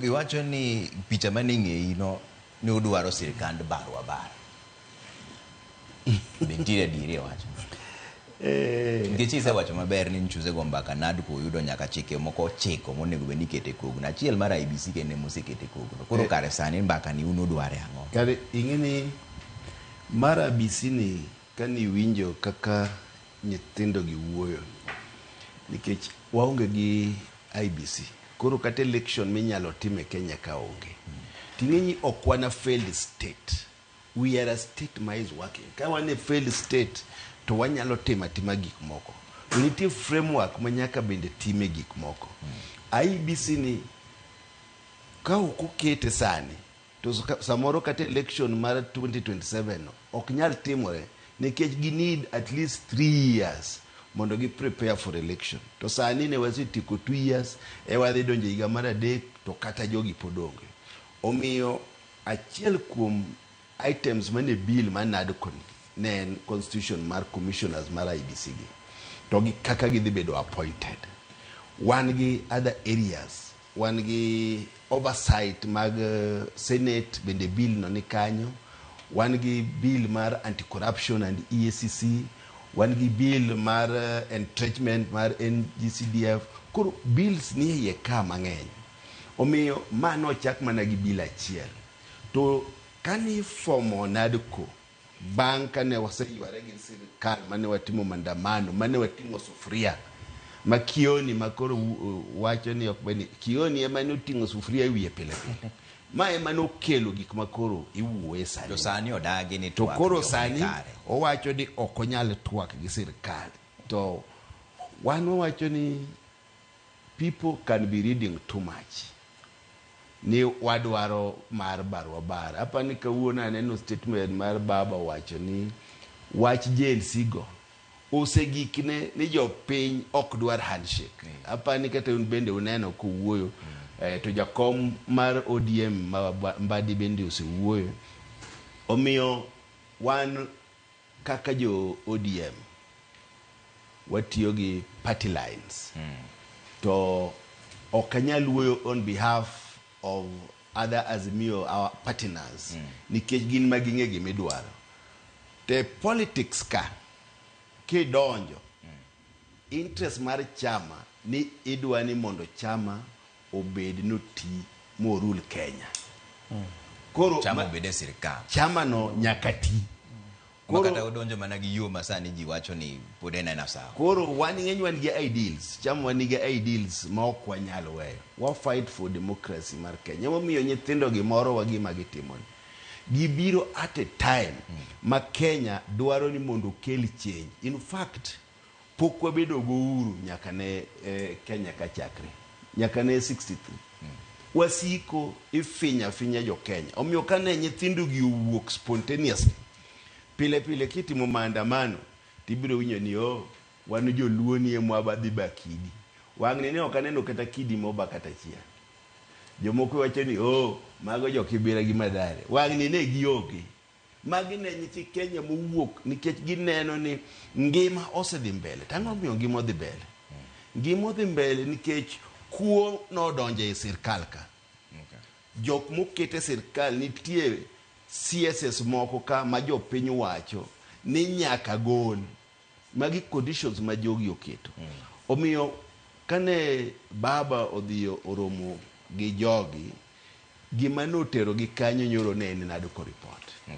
Iwacho ni picha mane ng'eyi no ne udwaro sirkand barwa bar. Be nitiere adieri e wachno? Eh, Nikech isewacho maber ni nchuze go mbaka NADCO oyudo nyaka chike moko ochiko monego bed ni ikete kogno. Achiel mar IBC kende mosekete kogno. Koro Eh. kare sani mbaka ni un udware ang'o? kare ing'e ni mar abisi ni Ka niwinjo kaka nyithindogi wuoyo, nikech waonge gi IEBC, koro kata election minyalo tim e Kenya ka onge. To ing'e ni ok wan a failed state. We are a state ma is working. Ka wan e failed state to wanyalo timo atima gik moko. To nitie framework ma nyaka bende time gik moko. IEBC ni ka ok okete sani, To samoro kata election mar 2027 ok nyal timore nikech gi need at least three years mondo gi prepare for election. To sani ne wasetieko two years e wadhi donjo higa mar adek to kata jogi pod onge. Omiyo achiel kuom items mane bill ma NADCO ni ne en constitution mar commissioners mar IBC gi to gi kaka gidhi bedo appointed. Wan gi other areas Wan gi oversight mag Senate bende bill no ni kanyo. Wan gi bill mar anti corruption and EACC. Wan gi bill mar entrenchment mar NGCDF. Koro bills nie iye ka mang'eny. Omiyo ma nochak mana gi bill achiel. To kani formo NADCO, Bang' kane waseyware gi sirkal mane watimo mandamano, mane wating'o sufria ma Kioni ma koro wacho ni ok beni, Kioni ema ne oting'o sufria e wiye pile pile. Ma ema ne okelo gik ma koro iwuoye sani. To sani odagi ni twak. To koro sani owacho ni ok onyal twak gi sirkal. To wan wawacho ni People can be reading too much ni wadwaro mar barwa bar. Apa ni kawuono aneno statement mar baba owacho ni wach Gen Z go osegikne ni jopiny ok dwar handshake. Mm. Apa ni kata un bende uneno kowuoyo mm. eh, to jakom mar ODM ma Mbadi bende osewuoyo. Omiyo wan Kaka jo ODM watiyo gi party lines to ok anyal wuoyo on behalf of other Azimio our partners nikech gin ma ging'e gima idwaro. To e politics ka kidonjo Interest mar chama ni idwani mondo chama obed noti mo rule Kenya. Koro chama obed e sirkal. Chama no nyaka ti. Koro kata odonjo mana gi yo masani ji wacho ni pod en ena sawa. Koro wan ng'eny wan gi ideals, chama wan gi ideals ma ok wanyal weyo. Wa fight for democracy mar Kenya. Emomiyo nyithindo gi moro wa gima gitimoni. Gibiro at a time ma Kenya dwaro ni mondo okel change. In fact, pok wabedo go uhuru nyaka ne Kenya ka chakre. Nyaka ne 63. Wasiko ifinyo afinya jo Kenya. Omiyo ka ne nyithindo gi owuok spontaneously, pile pile kitimo maandamano to ibiro winjo ni oh, wan joluo ni e mwaba dhi ba kidi. Wang'ni ne ok aneno kata kidi moba kata achiel. Jomoko wacho ni oh mago jo Kibira gi Mathare. Wang'ni ne gionge. Magi ne nyithi Kenya mowuok nikech gineno ni ngima osedhi mbele. Tang'o miyo ngima odhi mbele? Ngima odhi mbele nikech kuo nodonje e sirkal ka. Jok mokete sirkal nitie CSS moko ka ma jopiny wacho ni nyaka gol. Magi conditions ma jogi oketo. Omiyo kane baba odhi oromo gi jogi, gima noterogi kanyo nyoro ne en nado ko report. Okay.